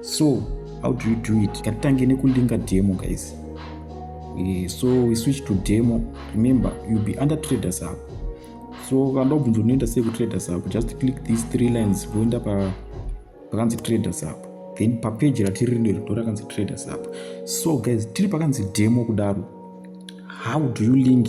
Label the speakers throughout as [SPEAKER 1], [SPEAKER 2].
[SPEAKER 1] so how do you do it ngatitange nekulinga demo guys uh, so we switch to demo remember youll be under traders up so vanoda kubvunza unoenda sei kutraders up just click these three lines voenda pa pakanzi traders up then papeji ratiri rino rido rakanzi traders up so guys tiri pakanzi demo kudaro how do you link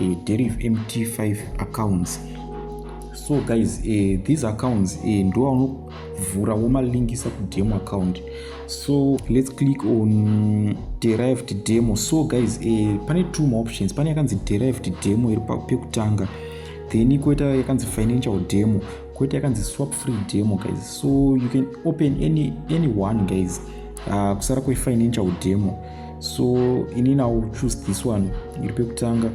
[SPEAKER 1] eh, deriv mt5 accounts so guys eh, these accounts eh, ndovaunovhura womalinkisa kudemo account so let's click on derived demo so guys eh, pane two more options pane yakanzi derived demo iri pekutanga then koita yakanzi financial demo koita yakanzi swap free demo guys so you can open any, any one guys uh, kusara kwefinancial demo so ini now choose this one iri pekutanga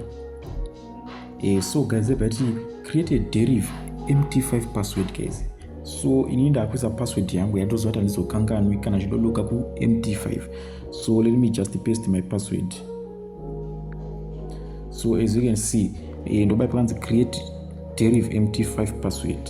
[SPEAKER 1] eh, so guys ebva ti create a derive mt5 password guys so ini ndakuisa password yangu yandoziva kuti handizokanganwi kana zvidodoka kumt5 so let me just paste my password so as you can see eh, ndobai pakanzi create derive mt5 password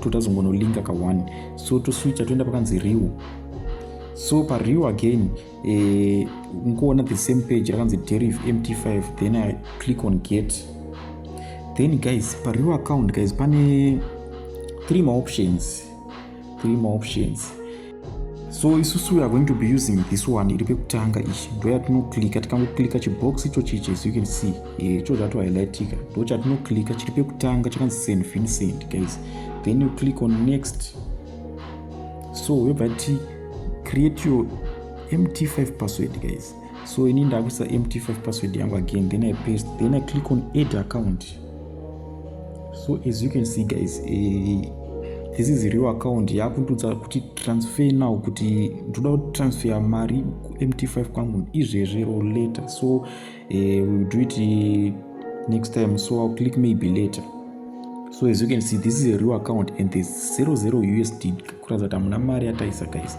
[SPEAKER 1] totazongonolinka ka one so toswicha toenda pakanzi riu so pariu again eh, nkuona the same page rakanzi deriv mt5 then i click on get then guys pariu account guys pane three maoptions three maoptions so isusu we are going to be using this one iri pekutanga ichi ndoyatinoklika tikangoklika chibox icho chichi as you can see eh, icho zvato highlightika ndo chatinoklika chiri pekutanga chakanzi send fin send guys then you click on next so yobva ti create your mt5 password guys so ini ndakuisa mt5 password yangu again then i paste then i click on add account so as you can see guys uh, this is real account yakundudza kuti transfer now kuti ndoda kuti transfer mari mt5 kwangu izvezve or later so uh, eh, will do it eh, next time so i'll click maybe later so as you can see this is a real account and there's 00 usd kuratidza kuti hamuna mari yataisa guys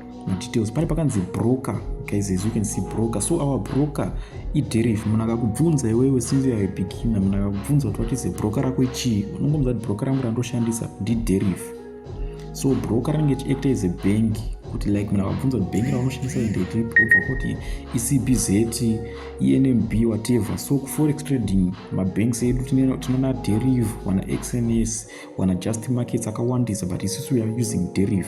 [SPEAKER 1] madetails pane pakanzi broker guys as you can see broker so our broker iderif munhu akakubvunza iwewe since youare beginner munhu akakubvunza kuti what is a broker rako chii unongomudza kuti broker rangu randoshandisa ndiderif so broker rinenge chiacta as a bank kuti like munhu akabvunza kuti bank raunoshandisa ndetepi obva kuti ecbz enmb whatever so kuforex trading mabanks edu tinona derive wana xns wana just markets akawandisa but isusu weare using derive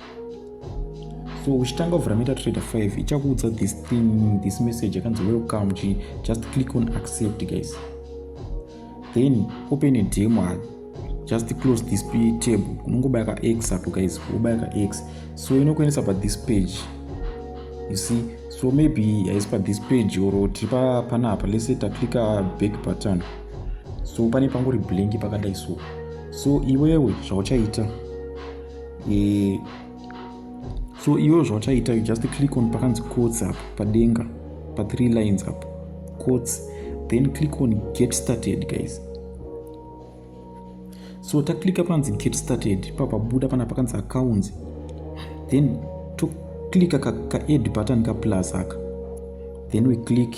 [SPEAKER 1] so uchitanga kuvhura metatrader 5 ichakuudza this thing this message yakanzi welcome chi just click on accept guys then open a demo ah, just close this table unongobaya ka x apo guys wobaya ka x so inokuendesa pa this page you see so maybe haisi pa this page or tiri pana apa lese taclicka back button so pane pangori blank pakadai so so iwewe zvauchaita e, so iwe zvauchaita you just click on pakanzi cots apo padenga pa three lines apo cots then click on get started guys so taklika panzi get started papabuda pana pakanzi accounts then toklika ka, ka add button ka plus aka then we click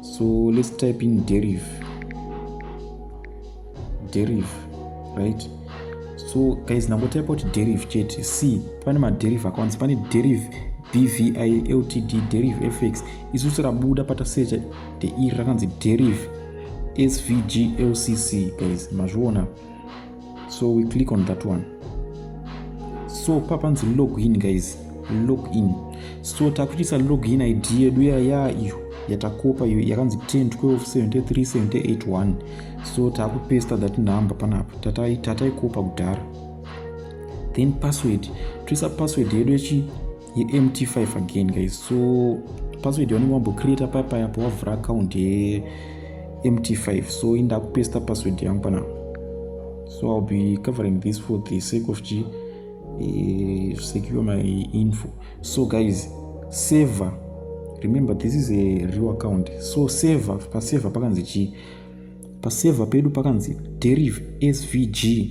[SPEAKER 1] so let's type in deriv deriv right so guys nangotypa kuti deriv chete c pane maderiv akawandisa pane deriv bvi ltd deriv fx isusu rabuda patasecha the ir rakanzi deriv svg lcc guys mazviona so we click on that one so papanzi login guys login so takuitisa login id yedu yaya iyo yatakopa iyo yakanzi 10 12 73 78 1 so takupesta that number panapa tataikopa kudhara then password toisa password yedu yechi yemt5 again guys so password yaunenge wambocreata papa yapo wavhura account yemt5 so inda kupesta password yangu pana so ill be covering this for the sake of chi uh, secure my info so guys saver remember this is a real account so saver pasaver pakanzi chii pasaver pedu pakanzi derive svg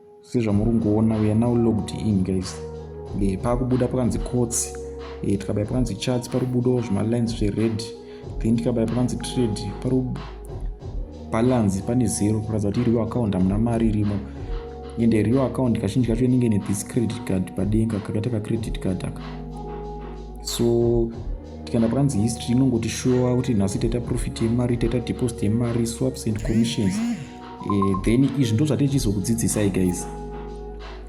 [SPEAKER 1] sezvamuri kungoona we are now logged in guys e, pakubuda pakanzi cots e, eh, tikabaya pakanzi charts pari kubudawo zvimalines zvered then tikabaya pakanzi trade pari balance pane zero kuratidza kuti iriyo account hamuna mari irimo ende iriyo account kazhinji kacho inenge ne this credit card padenga kakaita kacredit card aka so tikaenda pakanzi history inongotishowa kuti nhasi taita profit yemari taita deposit yemari swaps and commissions e, then izvi ndo zvatinge tichizokudzidzisai guys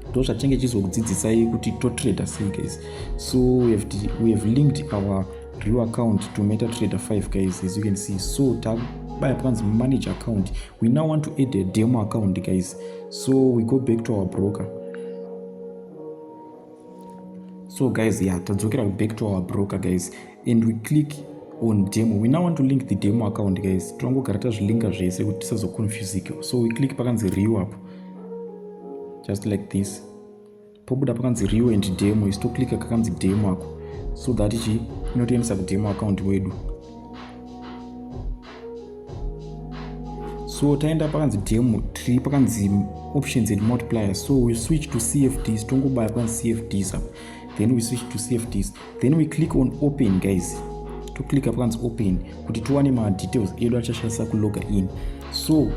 [SPEAKER 1] ndo zvatinge tichizokudzidzisai kuti totrader sei guys so we have, we have linked our real account to meta trader 5 guys as you can see so tabaya panzi manage account we now want to add a demo account guys so we go back to our broker so guys ya yeah, tadzokera back to our broker guys and we click on demo we now want to link the demo account guys tirongogara tazvilinka zvese kuti tisazoconfusike so we click pakanzi rew apo just like this pobuda pakanzi rew and demo isu toclicka kakanzi demo ako so that ichi inotoendesa kudemo account wedu so taenda pakanzi demo tiri pakanzi options and multiplier so we switch to cfds tongobaya pakanzi cfds apo then we switch to cfds then we click on open guys to click pakanzi open kuti tiwane madetails edu achashandisa kuloga in so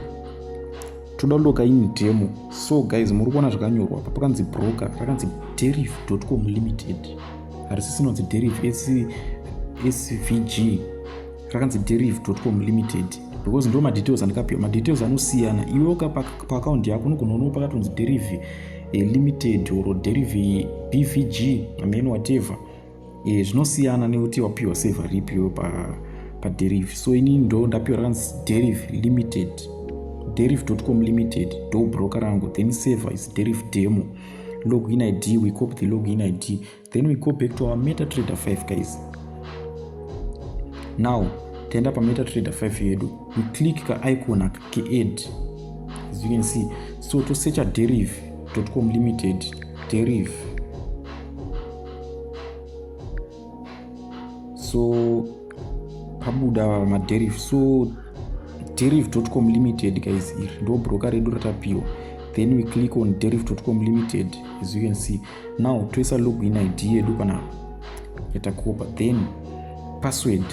[SPEAKER 1] toda kuloga in demo so guys muri kuona zvakanyorwa pa pakanzi broker rakanzi deriv com limited harisi sinonzi deriv svg rakanzi deriv com limited because ndo madetails andikapiwa madetails anosiyana iwe ukapa paakaunti yako unogona unowo pakatonzi deriv e, limited or deriv bvg amen whatever e, zvinosiyana nekuti wapiwa seva ripi iwe paderiv pa so ini ndo ndapiwa rakanzi deriv limited deriv com limited do broker rangu then seva is deriv demo login id we copy the login id then we go back to our meta trader 5 guys now taenda pameta trader 5 yedu we click ka icon aka keadd as you can see so to search a derive com limited derive so pabuda maderive so derive com limited guys iri ndo broker redu ratapiwa then we click on derive com limited as you can see now toisa login id yedu kana yatakopa then password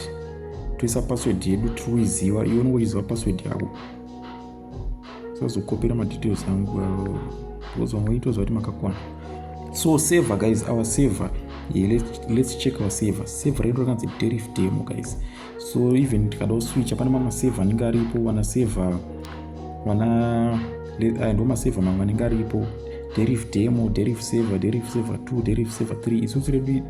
[SPEAKER 1] toisa password yedu tiruiziva iwe unenge uchiziva password yako sazokopera madetails angu uh, because vamwe itoziva kuti makakwana so saver guys our saver yeah, let's, let's check our saver saver redu rakanzi derif demo guys so even tikada kuswicha pane mamwe save anenge aripo vana save vana eh, ndo masave mamwe anenge aripo derif demo derif save derif save 2 derif save 3 isusu redu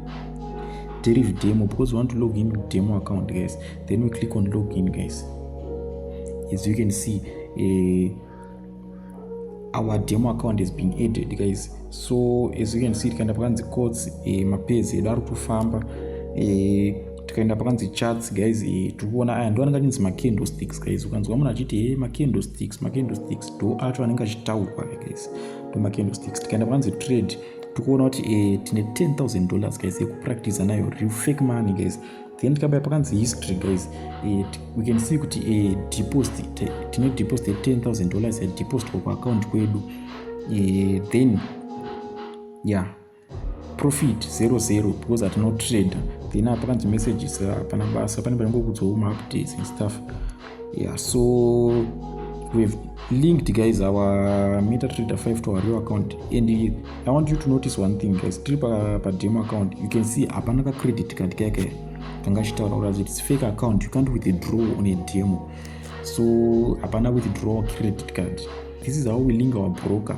[SPEAKER 1] derif demo because we want to log in demo account guys then we click on log in guys as you can see uh, our demo account has been added guys so as you can see tikaenda pakanzi cots eh, mapezi edu ari kutofamba eh, tikaenda pakanzi charts guys eh, tiri kuona aya ndo anenge achinzi macandlesticks guys ukanzwa munhu achiti he eh, macandlesticks macandlesticks do acho anenge achitaurwa guys to macandlesticks tikaenda pakanzi trade tikuona kuti eh, tine 10000 dollars guys yekupractiza nayo real fake money guys then tikabaya pakanzi history guys eh, we can see kuti eh, deposit tine deposit 10000 dollars yadeposit kwa kuaccount kwedu eh, then yeah profit 00 because hatina kutrader then apa kanzi messages hapana basa pane panenge kudzwa maupdates and stuff yeah so we've linked guys our metatrader 5 to our real account and you, i want you to notice one thing guys tiri pademo account you can see hapana kacredit card kake kanga chitaura kuratidza kuti its fake account you can't withdraw on a demo so hapana withdraw credit card this is how we link our broker